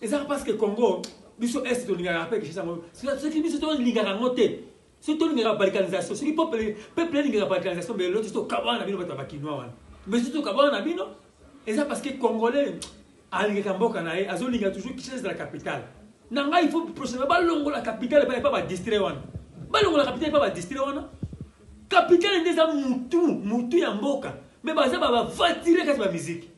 eza parce que congo biso est tolingaka mpe kinshasa yango soki biso tolingaka yango te soki tolingaka balkanisation soki peuple elingaka balkanisation mbe loti tokabwana na bino bato ya bakinois wana mbe soki tokabwana na bino eza parce que congolais alingaka mboka na ye azolinga toujours kinshasa ezala capitale na ngai il faut prochainement balongola capitale epai epa badistrait wana balongola capitale epa badistrait wana capitale nde eza mutu mutu ya mboka me baza bavatiraka ti bamiziki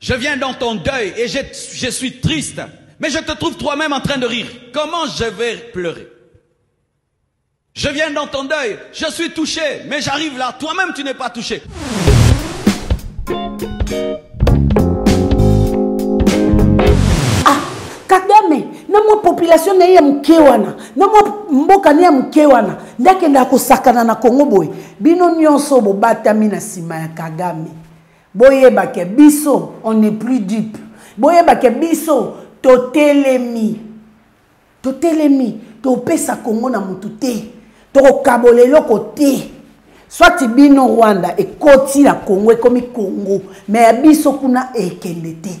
Je viens dans ton deuil et je, je suis triste, mais je te trouve toi-même en train de rire. Comment je vais pleurer Je viens dans ton deuil, je suis touché, mais j'arrive là, toi-même tu n'es pas touché. kagame na mwa population na ye ya moke wana na mwa mboka ne ya moke wana nde akendaka kosakana na kongo boye bino nyonso bobatami na nsima ya kagame boyeba ke biso on n'est plus dupe boyeba ke biso totelemi totelemi topesa kongo na motu te tokokabola eloko te soit bino rwanda ekoti na kongo ekomi kongo me ya biso kuna ekende te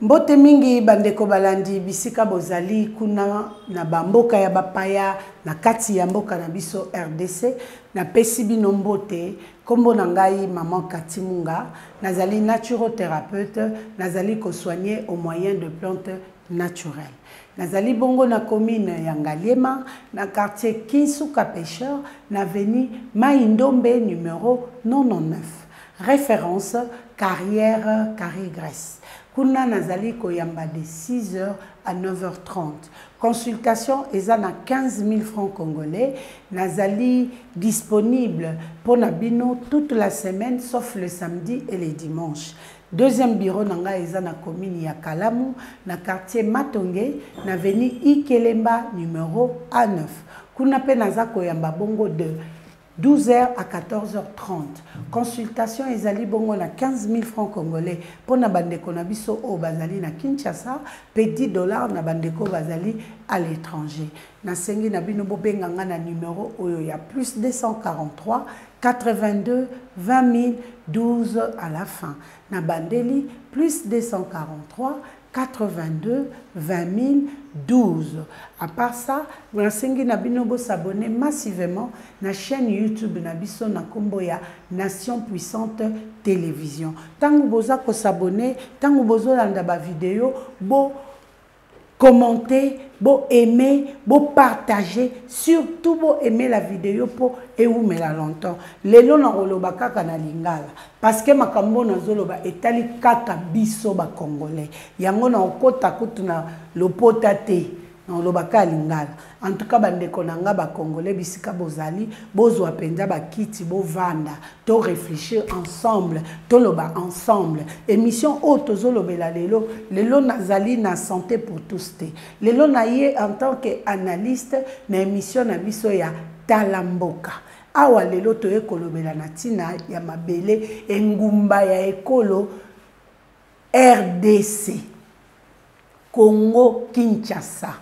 mbote mingi bandeko balandi bisika bozali kuna na bamboka ya bapaya na kati ya mboka na biso rdc napesi bino mbote nkombo na ngai maman katimunga nazali naturothérapeute nazali kosoigne au moyen de plante naturel. Nazali bongo na commune ya Ngaliema, na quartier Kinsuka Pêcheur, na avenue Mayi Ndombe numero 99. Reference, Carrière Carré Graisse. Kuna nazali koyamba de 6 heures à 9h30. Consultation eza na 15 000 francs congolais. Nazali disponible mpo na bino toute la semaine sauf le samedi et le dimanche. Deuxième bureau na ngai eza na commune ya Kalamu na quartier Matonge na avenue Ikelemba numero A9. Kuna pe naza koyamba bongo de 12h à 14h30. Consultation ezali bongo na 15000 francs congolais pona bandeko na biso oyo bazali na Kinshasa pe 10 dollars na bandeko bazali à l'étranger. Nasengi na bino bobenga nga na numero oyo ya plus 243 82 20 12 à la fin. Na bandeli plus 243 82 20 12. À part ça, nasengi na bino bo s'abonner massivement na chaîne YouTube na biso na kombo ya Nation Puissante Télévision. Tango boza ko s'abonner, tango bozo landa ba vidéos, bo commenter bo aimer bo partager surtout bo aimer la vidéo mpo ewumela longtemps lelo nakoloba kaka na lingala parce que makambo nazoloba etali kaka biso bacongolais yango nakokota kutu na lopota te nakoloba kaka lingala En tout cas ba ndeko na nga ba congolais bisika bozali bozwa penza ba kiti bovanda to réfléchir ensemble toloba ensemble émission oyo tozolobela lelo lelo nazali na santé pour tous te lelo na ye en tant que analyste na émission na biso ya tala mboka awa lelo toye kolobela na ntina ya mabele engumba ya ekolo rdc congo kinshasa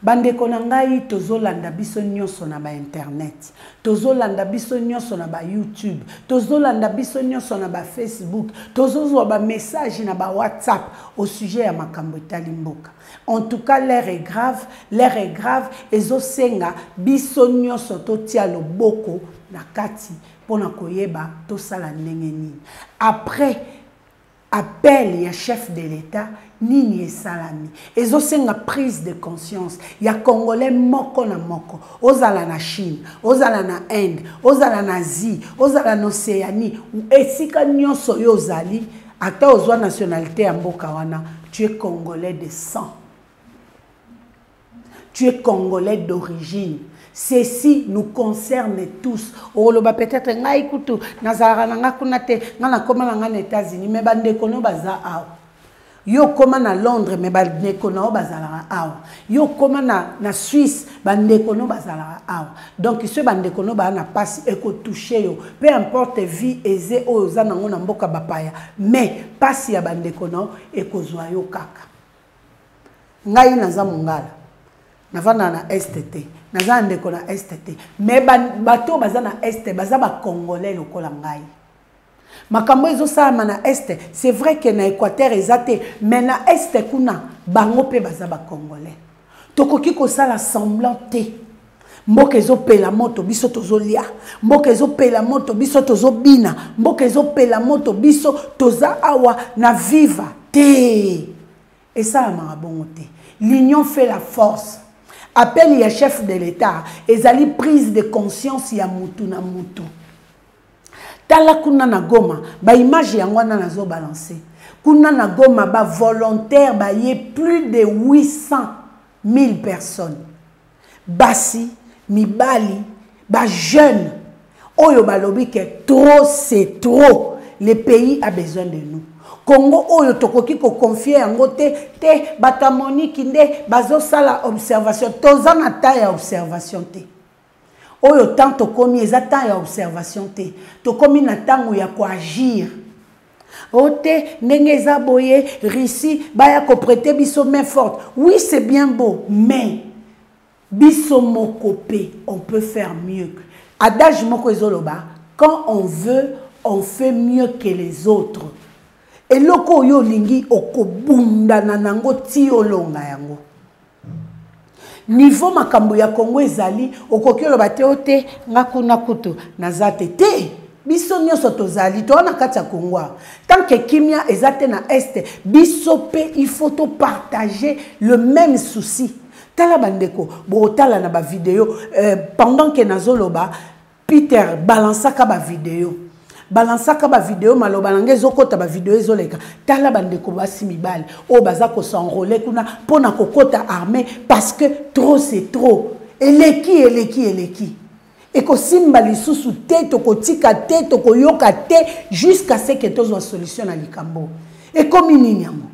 Bandeko na ngai tozolanda biso nyonso na ba internet, tozolanda biso nyonso na ba YouTube, tozolanda biso nyonso na ba Facebook, tozozwa ba message na ba WhatsApp au sujet ya makambo etali mboka. En tout cas l'heure est grave, l'heure est grave ezosenga biso nyonso totia loboko na kati pona koyeba tosala ndenge nini. Après appel ya chef de l'etat nini esalami ezosenga prise de conscience ya congolais moko na moko ozala na chine ozala na inde ozala na asie ozala na océanie esika nyonso oyo ozali ata ozwa nationalité ya mboka wana tu es congolais de sang tu es congolais d'origine ceci nous concerne tous okoloba peut-être ngai kutu nazalaka na ngai kuna te ngai nakoma na ngai na états-unis mais bandeko no baza awa yo okoma na londres mais bandeko na yo bazalaka awa yo okoma na, na suisse bandeko no bazalaka awa donc soki bandeko no baa na mpasi ekotouche yo peu importe vie eze oyo oza nango na mboka bapaya mais mpasi ya bandeko na yo ekozwa yo kaka ngai naza mongala navanda na est te naza na ndeko na est te mais bato oyo baza na est baza bacongolais lokola ngai makambo ezosalama na est c'est vrai que na équateur eza te mais na est kuna bango mpe baza bacongolais tokoki kosala semblant te mboka ezopela moto biso tozolia mboka ezopela moto biso tozobina mboka ezopela moto biso toza awa na viva te esalamaka bongo te l'union fait la force appel ya chef de l'état ezali prise de conscience ya mutu na mutu tala kuna na goma baimage yango wana nazobalanse kuna na goma bavolontaire baye plus de 800 000 personnes basi mibali ba jeune oyo balobi ke trop c'est trop le pays a besoin de nous congo oyo tokoki koconfie yango te te bato ya moniki nde bazosala observation toza na temps ya observation te oyo temps tokomi eza temps ya observation te tokomi na ntango ya koagir ote ndenge eza boye russie baya koprete biso main forte oui c'est bien beau mais biso moko mpe on peut faire mieux adage moko ezoloba quand on veut on fait mieux que les autres eloko oyo olingi okobundana nango ti olonga yango niveau makambo ya kongo ezali okoki oloba te o te nga kuna kutu naza te te biso nyonso tozali toa na kati ya kongo awa tant ke kimia eza te na este biso mpe il faut topartage le même souci tala bandeko botala na bavideo euh, pendant ke nazoloba peter balansaka bavideo balansaka bavideo maloba na ngai ezokota bavideo ezoleka tala bandeko basi mibale oyo baza kosenrole kuna mpo na kokota armée parce que trop c'est trop eleki eleki eleki ekosimba lisusu te tokotika te tokoyoka te jusqu'à ce que tozwa solution na likambo ekomi nini yango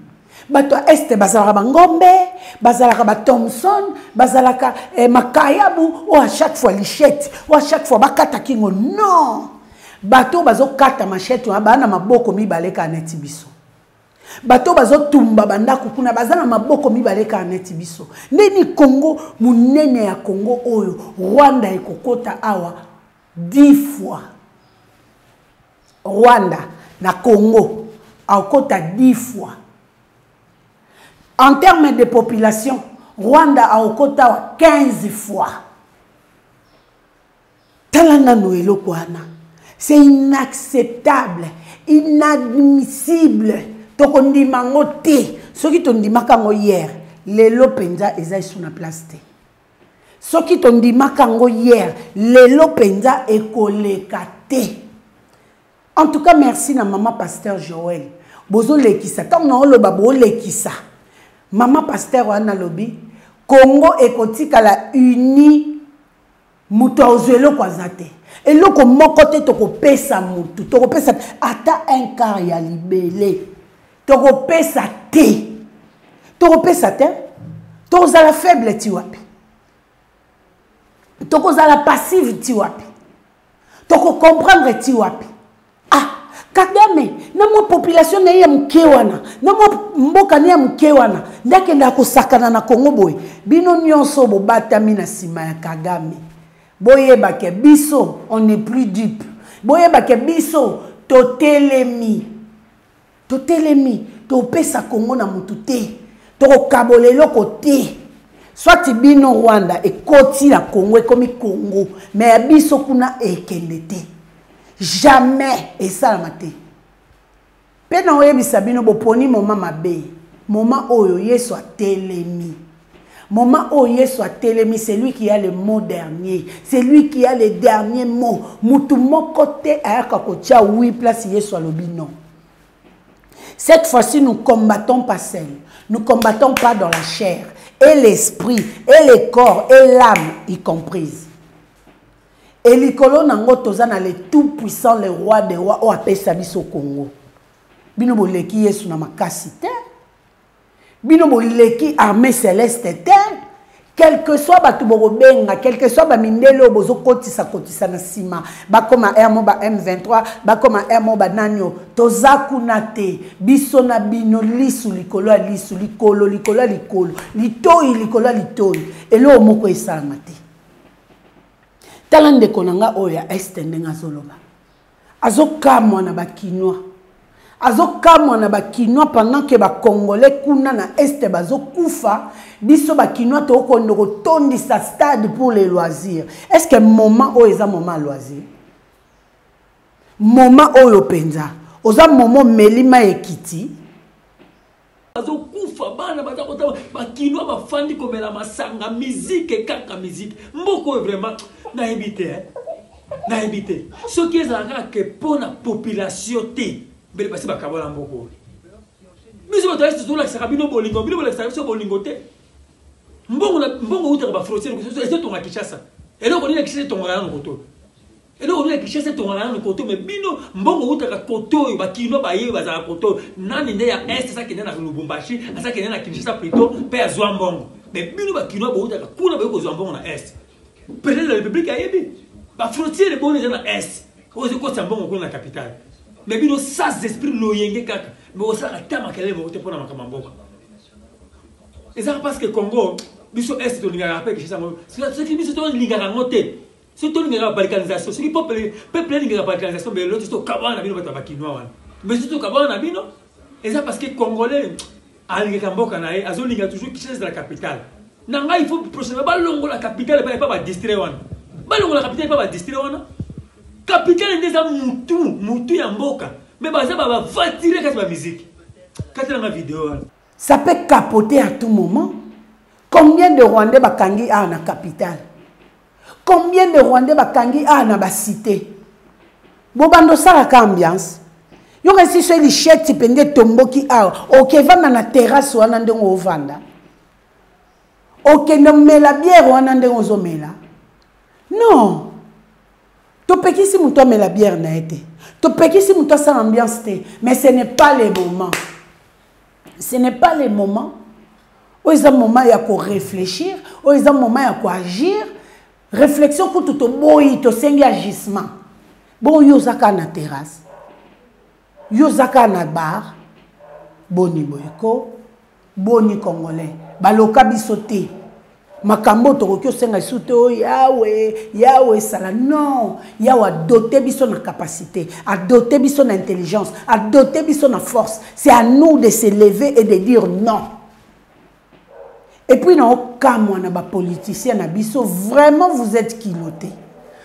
bato ya este bazalaka bangombe bazalaka bathomson bazalaka eh, makayabu oyo a chaque fois lichette oyo a chaque fois bakata kingo non bato oyo bazokata machete wana baa na maboko mibale kaka neti biso bato oyo bazotumba bandako kuna baza na maboko mibale kaka neti biso ndeni kongo monene ya kongo oyo rwanda ekokota awa 10 fois Rwanda na Congo akota 10 fois en terme de population rwanda aokotawa 15 fois tala nano eloko wana c'est inacceptable inadmissible tokondima yango te soki tondimaka yango hier lelo mpenza eza esu na place te soki tondimaka yango hier lelo mpenza ekoleka te en tout cas merci na mama pasteur joel bozolekisa ntango na oloba boolekisa mama pasteur wana alobi congo ekotikala uni moto azwa eloko aza te eloko moko te tokopesa motu tokopesa ata un quart ya libele tokopesa te tokopesa te tokozala faible ti wapi tokozala passive ti wapi tokocomprendre ti wapi ah kagame na mwa population na ye ya moke wana na mwa mboka ne ya moke wana nde akendaka kosakana na kongo boye bino nyonso bobatami na nsima ya kagame boyeba ke biso on est plus dupe boyeba ke biso totelemi totelemi topesa kongo na motu te tokokabola eloko te swati bino rwanda ekoti na kongo ekomi kongo me ya biso kuna ekende te jamais esalama te mpe na oyebisa bino boponi moma mabe moma oyo yesu atelemi Moment où Yesu a telemi, c'est lui qui a le mot dernier. C'est lui qui a le dernier mot. Mutu moko te ayaka kotia oui place Yesu alobi non. Cette fois-ci, nous combattons pas seul. Nous combattons pas dans la chair et l'esprit et le corps et l'âme y comprise. Et likolo nango toza na le tout puissant le roi des rois o apesa biso Congo. Bino boleki Yesu na makasi te. bino boleki armée céleste te quelque soit bato bokobenga quelque soit bamindele oyo bozokotisa kotisa na nsima bakoma r mo ba m23 bakoma r mo banani oyo toza kuna te biso na bino lisu likolo ya lisu likolo likolo ya likolo litoi likolo ya litoi eloko moko esalama te tala ndeko na ngai oyo ya este ndenge azoloba azokamwa na bakinois azokamwa na bakinois pendant ke bacongolais kuna na este bazokufa biso bakinois tokokondo kotondisa stade pour les loisirs est ce que moment oyo eza moment ya loisir moment oyo mpenza oza momo omeli mai ekiti bazokufa bana baza kotaba bakinois bafandi komela masanga mizike kaka mizike mboka oyo vraiment nayebi te eh? nayebi te soki ezala kaka ke mpo na population te mbele basi bakabala mboka oyo biso bato yasi tozolakisaka bino bolingo bino bolakisaka biso bolingo te mbongo utaka bafrontiere ezotonga kinshasa eloko nini ya kinshasa etongaka nano kotoyo Eloko nini Kinshasa etongaka nanu koto mais bino mbongo wutaka koto oyo ba kinois ba ye bazala koto nani nde ya est sa kende na Lubumbashi asa kende na Kinshasa plutôt pe azwa mbongo mais bino ba kinois bo wutaka kuna ba yoko zwa mbongo na est President de la République ayebi ba frontières eboni eza na est oyo zi kosa mbongo kuna na capitale mais bino sans esprit loyenge kaka mais osala ata makelele moko te pona makama mboka eza parce que Congo biso est tolingaka pe Kinshasa ngo soki biso tolingaka ngo te soki tolingaka balkanisation soki peuple peuple alingaka balkanisation mais lelo to kabana na bino bato ya bakinois wana mais soki tokabana na bino eza parce que congolais alingaka mboka na ye azolinga toujours kinshasa ezala capitale na ngai il faut prochainement balongola capitale epai epai badistrait wana balongola capitale epai badistrait wana capitale nde eza mutu mutu ya mboka me baza bavatire kati bamiziki kati nanga video wana Ça peut capoter à tout moment. Combien de Rwandais bakangi a na capitale Combien de Rwandais bakangi a na ba cité Bobando salaka ambiance. Yo kasi so lichette pende tomboki awa. Okevanda na terrasse wana ndenge ovanda. Okende mela bière wana ndenge ozomela. Non. topekisi moto amela biere na ye te topekisi moto asala ambiance te mais ce n'est pas le moment ce n'est pas le moment oyo eza moment ya koreflechir oyo eza moment ya koagir réflexion kutu toboyi tosengi agissement bongo yo oza kaka na terrasse yo oza kaka na bar boni boyeko boni congolais baloka biso te makambo oyo tokoki osenga lisusu te oyo yawe yawe esala non yawe adote biso na capacité adote biso na intelligence adote biso na force c'est à nous de se lever et de dire non epuis naokamwa na bapoliticien na biso vraiment vous êtes kilote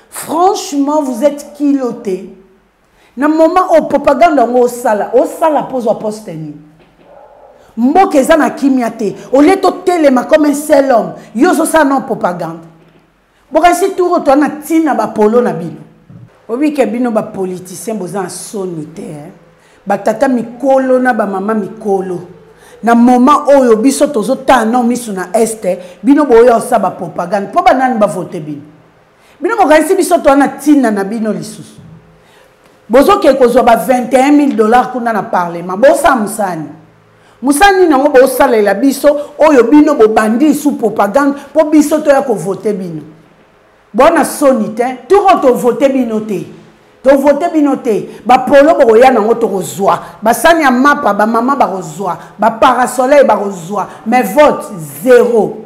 franchement vous êtes kilote na moment oyo propagande yango osala osala mpo ozwa poste nini mboka eza na kimia te olie totelema comme un seul homme yo ozosala nao propagande bokanisi tour oyo toa na ntina bapolo na bino obike bino bapoliticien boza na soni te eh? batata mikolo na bamama mikolo na moment oyo biso tozotala nao miso na este bino boyosa bapropagande mpo banani bavote bino bino bokanisi biso toa na ntina na bino lisusu bozokee kozwa ba 21 000 dollars kuna na parlement bosala mosani mosala nini yango bosalela biso oyo bino bobandi isu propagande mpo biso toya kovote bino bwana soni te toko tovote bino te tovote bino te bapolo bokoya nango tokozwa basani ya mapa bamama bakozwa baparasoleil bakozwa mais vote zero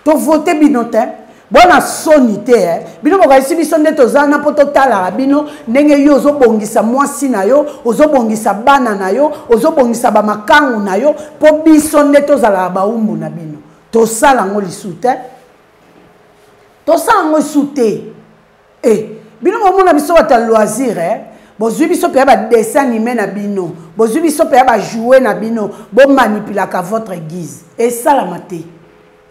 To voter bino te. Bona soni te eh. Bino bokaisi biso nde toza na po totalaka bino ndenge yo ozobongisa mwasi na yo, ozobongisa bana na yo, ozobongisa ba makangu na yo po biso nde tozalaka baumbu na bino. Tosala yango lisu te. Tosala yango lisu te. e bino bomona biso bato ya loisir eh? bozwi biso mpe ya badessin anime na bino bozwi biso mpe ya bajoue na bino bomanipulaka votre guise esalama te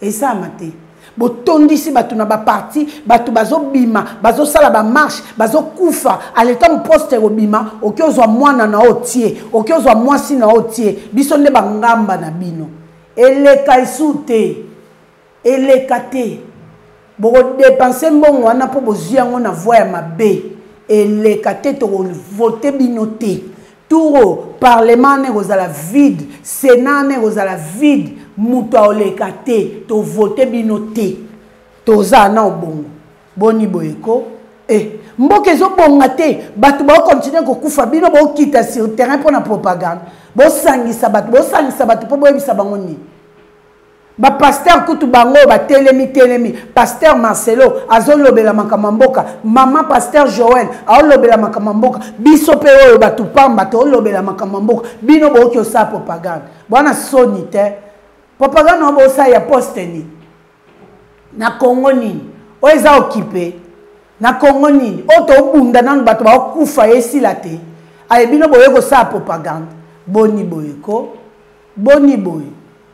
esalama te botondisi bato na baparti bato bazobima bazosala bamarshe bazokufa aletango poste ekobima oki ozwa mwana na oyo tie oki ozwa mwasi na oyo tie biso nde bangamba na bino eleka esu te eleka te bokodepense mbongo wana mpo bozwi yango na voi ya mabe eleka te tokovote bino te turo parlement wana ekozala vide senat wana ekozala vide moto aoleka te tovote bino te toza na obongo boni boye ko e eh, mboka ezobonga te bato baokontinue kokufa bino bokita sur terrain mpo na propagande bosangisa bato bosangisa bato mpo boyebisa bango nini bapastere kutu bango oyo batelemi telemi pastere marcelo azolobela makambo ya mboka mama pastere joel aolobela makambo ya mboka biso mpe oyo bato mpamba toolobela makambo ya mboka bino booki osala propagande bwana soni te propagande yango boosala ya poste nini na kongo nini oyo eza okipe na kongo nini oyo tobunda nano bato baokufa esila te aye bino boye kosala propagande boni boye ko boni boye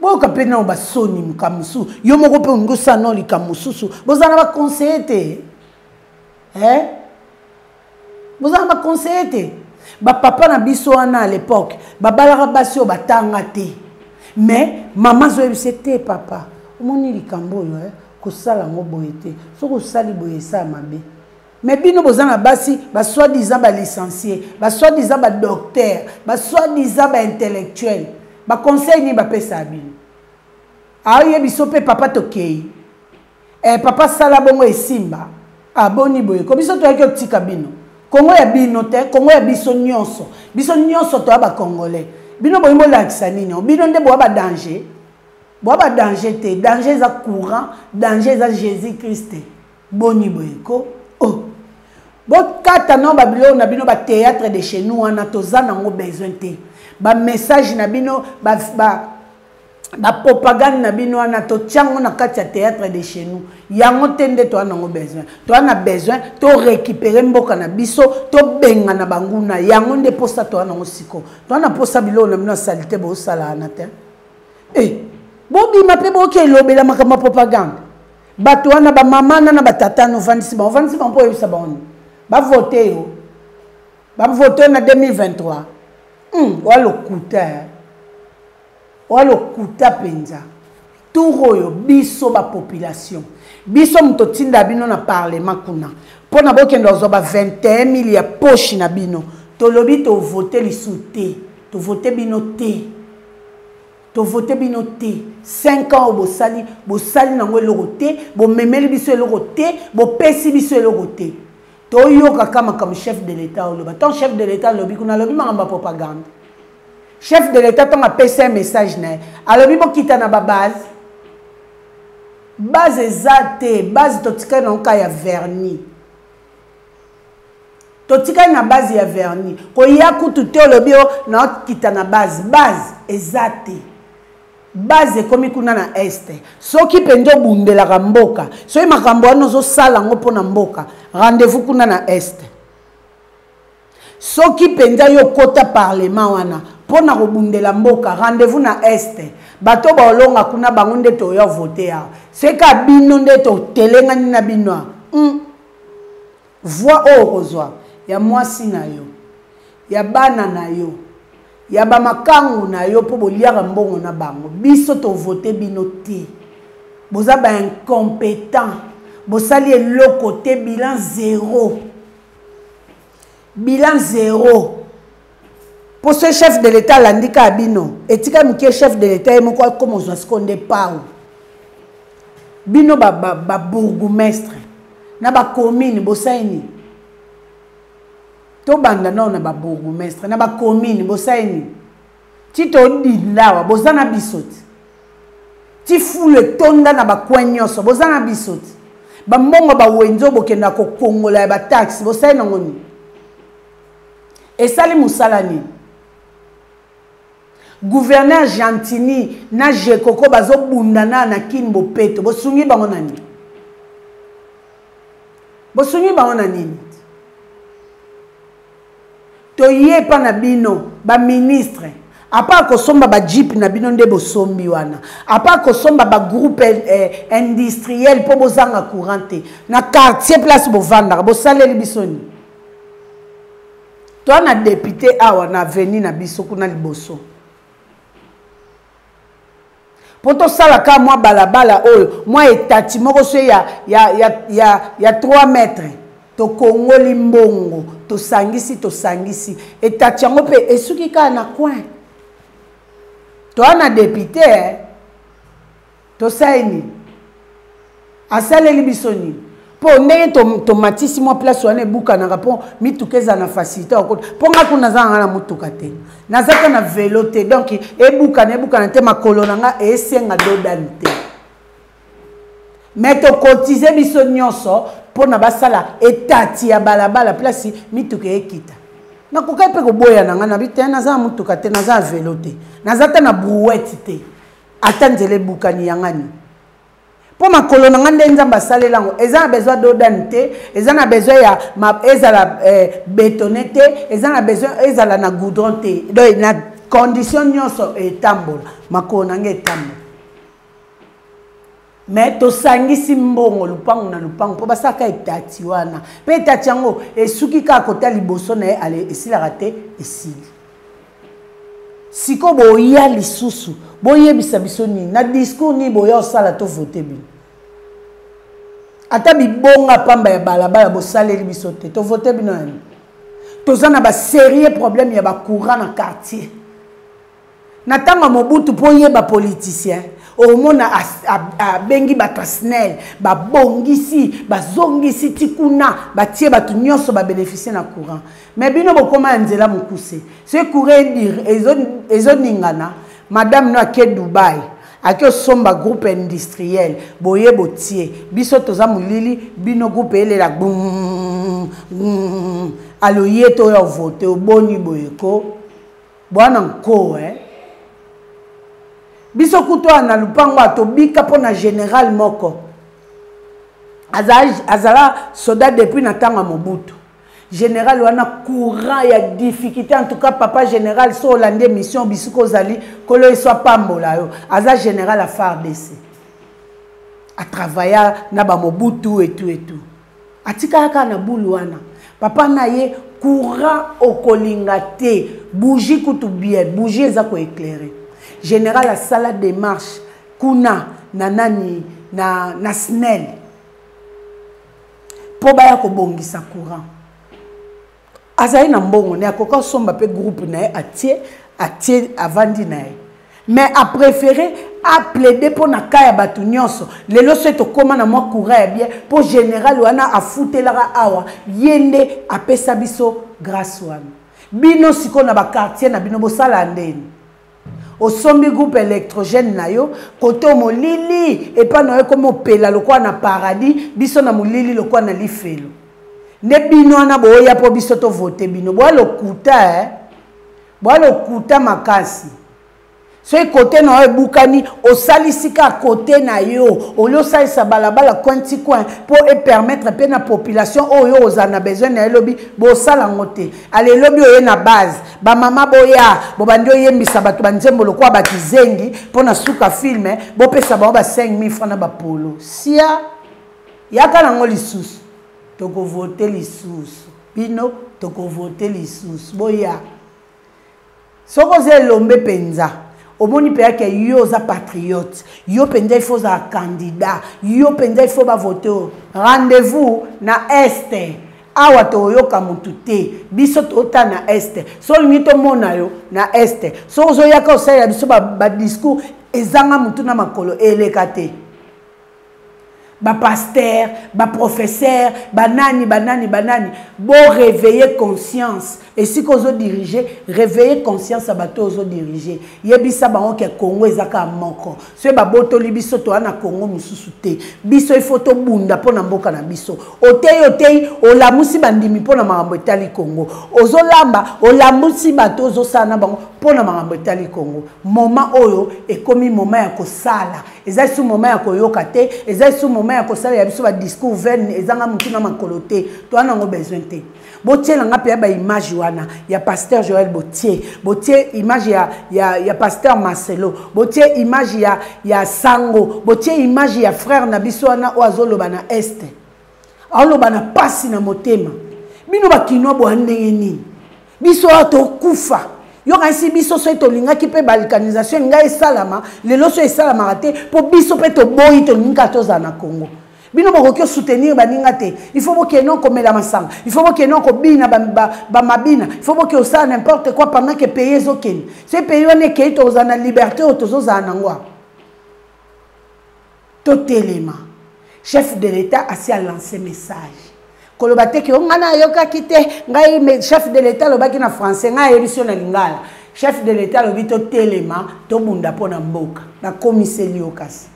boyoka mpe nao basoni makambo mosusu yo moko mpe olingi osala nao likambo mosusu boza na baconseille te eh? boza na baconseille te bapapa na biso wana à l'époque babalaka basi oyo batanga te mais mama azoyebisa te papa omoni likambo oyo eh? kosala yango boye te soki osali boye esala mabe Mais bino boza na basi ba soit disant ba licencié, ba soit disant ba docteur, ba soit disant ba intellectuel. Ba conseil ni ba pesa bino. Aye biso pe papa tokei. Eh papa sala bongo esimba. Aboni ah, boye ko biso toyaki otika bino. Kongo ya bino te, Kongo ya biso nyonso. Biso nyonso toya ba congolais. Bino boyi molakisa nini? Bino nde boya ba danger. Boya ba danger te. Danger eza courant, danger eza Jésus-Christ. boni boye ko oh. bokata no babiloko na bino batheatre de chez nous wana toza nango besoin te bamessage na bino ba, ba, bapropagande na bino wana totya yango na kati ya théâtre de chez nous yango te nde toa nango besoin toa na besoin torécupere mboka na biso tobengana banguna yango nde mposa toa nango siko toa na mposa biloko na bino ya salite bosalana te e bobima mpe boke elobela makambo ya propagande bato wana bamama na na batata no vandisi bango vandisi bango mpo oyebisa bango nini bavote yo bavote yo na 2023 hmm, oya lokuta eh. oya lokuta mpenza tour oyo biso bapopulation biso moto otinda bino na parlement kuna mpo na bokenda kozwa ba 21 mille ya poshi na bino tolobi tovote lisu te tovote bino te tovote bino te 5 ans oyo bosali bosali nango eloko te bomemeli biso eloko te bopesi biso eloko te toyoka ka makambo chef de l'état oloba ntango chef de l'état alobi kuna alobi makambo ya propagande chef de l'état ntango apesi un message na ye alobi bokita na babase base eza te base totikali nango ka ya vernis totikali na base ya verni koya kutu te olobi o nakita na base base eza te base ekomi kuna na este soki mpenza obundelaka mboka soki makambo wana ozosala yango mpo na mboka rendez-vous kuna na este soki mpenza yo okota parlement wana mpo na kobundela mboka rendez-vous na este bato baolonga kuna bango nde toya vote awa seka bino nde totelengani na bino awa mm. Voix oyo okozwa ya mwasi na yo, ya bana na yo, ya ba makangu na yo mpo boliaka mbongo na bango. Biso tovote bino te. Boza ba incompetent. Bosali eloko te, bilan zero. bilan zero mpo soki chef de l'etat alandi kaka bino etika moke chef de l'etat ye moko akoma ozwa siko nde pau bino babourgoumestre na bacommune bosali nini tobanda nao na babourgoumestre na bacommune bosali nini ti todinda awa boza na biso ti ti fulu etonda na bacoin nyonso boza na biso ti bambongo bawenzi oyo bokenda kokongola ya bataxe bosali nango nini esali mosala nini guverner gentini na jekoko bazobunda na na kin bopeto bosungi bango na nini bosungi bango na nini toye epa na bino baministre apa kosomba bajipe na bino nde bosombi wana apa kosomba bagroupe eh, eh, industriel mpo bozanga courant te na quartier place bovandaka bosaleli biso nini toa na depute awa na aveni na biso kuna liboso mpo tosala ka mwa balabala oyo mwa etati moko se ya, ya, ya, ya, ya 3 mètre tokongoli mbongo tosangisi tosangisi etati yango mpe esuki kaka na coin toa na depute eh? tosali nini asaleli biso nini mpo ndenge tomatisi to mwa place wana ebukanaka mpo mituka ezala na facilité okota mpo ngai kuna naza nanga na motuka te naza mpe na velo te donk ebukana ebukana te makolo na ngai esenga dodani te me tokotize biso nyonso mpo na basala etati ya balabala place mituka ekita nakokaki mpe koboya na ngai nabi te naza na motuka te naza na velo te naza ata na brouette te ata nzela ebukani yangani mpo makolo na ngai nde nzambe asalela yango eza na besoin dodane te eza na besoin ya ma, ezala eh, betone te eza na besoin ezala na goudron te donc na condition nyonso etambola makolo na ngai etambola me tosangisi mbongo lupangu na lupangu mpo basalaka etati wana mpe etati yango esuki kaka kota liboso na ye ale esilaka te esili sikoyo boya lisusu boyebisa biso nini na discours nini boya osala to vote bino ata bibonga pamba ya balabala bosaleli biso te to vote bino yani toza na baserie problème ya bacourant na quartier na ntango ya mobutu mpo oyeba politicien omona abengi bato ya snel babongisi bazongisi ti kuna batie bato nyonso babeneficie na courant mais bino bokoma ya nzela mokuse ce courre dire ezoningana madame no ake dubai ake osomba groupe industriel boye botie biso toza molili bino groupe elela gbum gbum aloye to oyo vote oboni boye ko bwana nko eh? biso kutu oyo na lupango atobika mpo na general moko azala soda depuis na ntango ya mobutu general wana courant ya difficulté en tout cas papa général so olandi émission bisika ozali kolo yesu apambola yo aza général ya fardc atravailla na bamobutu etu etu atikala kaka na bulu wana papa na ye courant okolinga te bougie kutu bien bougie eza koeclaire général asala démarche kuna na nani na, na snel mpo baya kobongisa courant azali na mbongo ne akoki asomba mpe groupe na ye atie atie avandi na ye mais apréféré aplaide mpo na ka ya bato nyonso lelo soki tokóma na mwa courant ya bien mpo général wana afutelaka awa ye nde apesa biso grâce wana bino sikoyo na bakartier na bino bosalaa ndeni osombi groupe électrogène na yo koto molili epa na yo ekomi opela lokola na paradis biso na molili lokola na lifelo nde bino wana boya mpo biso tovote bino boya lokuta eh? boya lokuta makasi soki kote na yo ebukani osalisi ka kote na yo olie osalisa balabala coin ti coin mpo epermettre mpe na population oyo ozala na besoin na ye lobi bosala yango te ale lobi oye na base bamama boya bobandi oyembisa bato banzembo lokola bakizengi mpo na suka filme bopesa bango ba 5000 franc na bapolo sia yaka nango lisusu tokovote lisusu bino tokovote lisusu boya soki oza elombe mpenza omoni mpenza ke yo oza patriote yo mpenza ifo ozala candidat yo mpenza ifo bavote oyo rendez-vous na este awa toyoka motu te biso tota na este so olingi tomona yo na este so ozoyaka osalela biso badiscours ezanga motu na makolo eleka te bapastere baprofesere banani banani banani boreveille conscience esika ozodirige reveille conscience ya bato oyo ozodirige yebisa bango ke congo eza kaka moko soki babotoli biso toya na congo mosusu te biso ifo tobunda mpo na mboka na biso oteyi oteyi olamusi bandimi mpo na makambo etali congo ozolamba olamusi bato ozosala na bango mpo na makambo etali congo moma oyo ekomi moma ya kosala eza lisusu moment ya koyoka te eza lisusu moment ya kosalela biso badiscours vaine ezanga motu na makolo te toa nango besoin te botiela nga mpe ya baimage wana ya pasteur joel botie botie image ya, ya, ya pasteur marcelo botie image ya, ya sango botie image ya frère na biso wana oyo azoloba na este aoloba na pasi na motema bino bakinois boya ndenge nini biso oyo tokufa yokanisi biso soki tolingaki mpe balkanisation elinga esalama lelo so esalamaka te mpo biso mpe toboyi tolingi kaka tozala na congo bino bokoki osoutenir baninga te il faut bokende okomela masanga il faut bokende okobina bamabina il faut boke osala n'importe quoi pendant ke pays ezokende se pays wana ekei tozala na liberté oyo tozozala nango totelema chef de l'etat asi alance message koloba te ke ngai nayokaki te ngai chef de l'etat alobaki na français ngai ayebisi yo na lingala chef de l'etat alobi totelema tobunda mpo na mboka nakomiseli yo kasi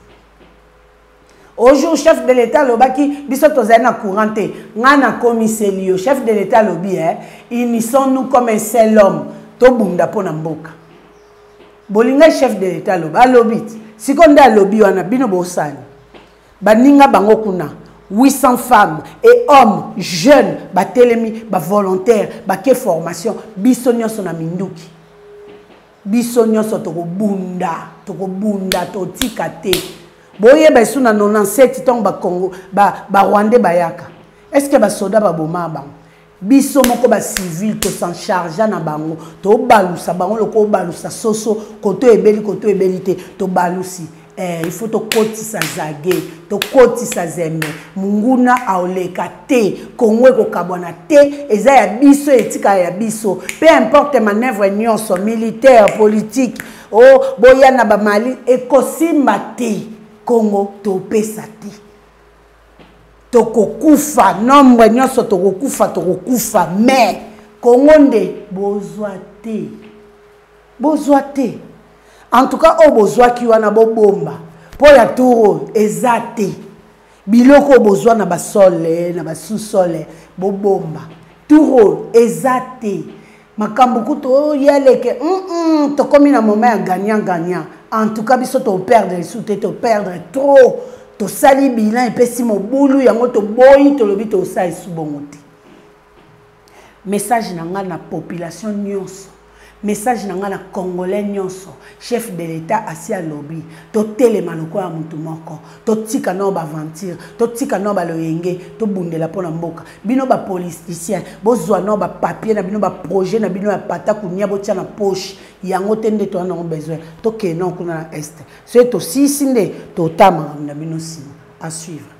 ojour chef de l'etat alobaki biso tozali na courant te ngai nakomiseli yo chef de l'etat alobi e eh, unison nous comme un seul homme tobunda mpo na mboka bolingai chef de l'etat aloba alobi sikoyo nde alobi wana bino bosani baninga bango kuna 800 femmes et hommes jeunes batelemi bavolontaire bake formation biso nyonso na minduki biso nyonso tokobunda tokobunda totika te boyeba esu na 97 ntango barwandais ba bayaka est ce que basoda baboma bango biso moko ba civil to s'en chargea na bango tobalusa bango loko obalusa soso koto ebeli koto ebeli te tobalusi eh, il faut tokotisa zage tokotisa zembe monguna aoleka te kongo ekokabwana te eza ya biso etikala ya biso peu importe manœuvre nyonso militaire politique o oh, boya na bamali ekosimba te kongo topesa te tokokufa nombre nyonso tokokufa tokokufa mais kongo nde bozwa te bozwa te en tout cas oyo bozwaki wana bobomba mpo ya tour oyo eza te biloko oyo bozwa na basole na basusole bobomba tour oyo eza te makambo kutu oya leke mm -mm, tokomi na moment ya gagnant gagnant en tout cas biso toperdre esu te toperdre trop tosali bilan epesi mobulu yango toboyi tolobi tosa esu bongo te message na ngai na population nyonso message na ngai na congolais nyonso chef de l'état asi alobi totelema lokola motu moko totika nao baaventure totika nao baloyenge tobundela mpo na mboka bino bapoliticien bozwa nao bapapier na bino baprojet na bino ya pata kunia botya na poche yango te nde toya nango besoin tokee nao kuna na este soki tosisi nde totala makambo na bino nsima asuivre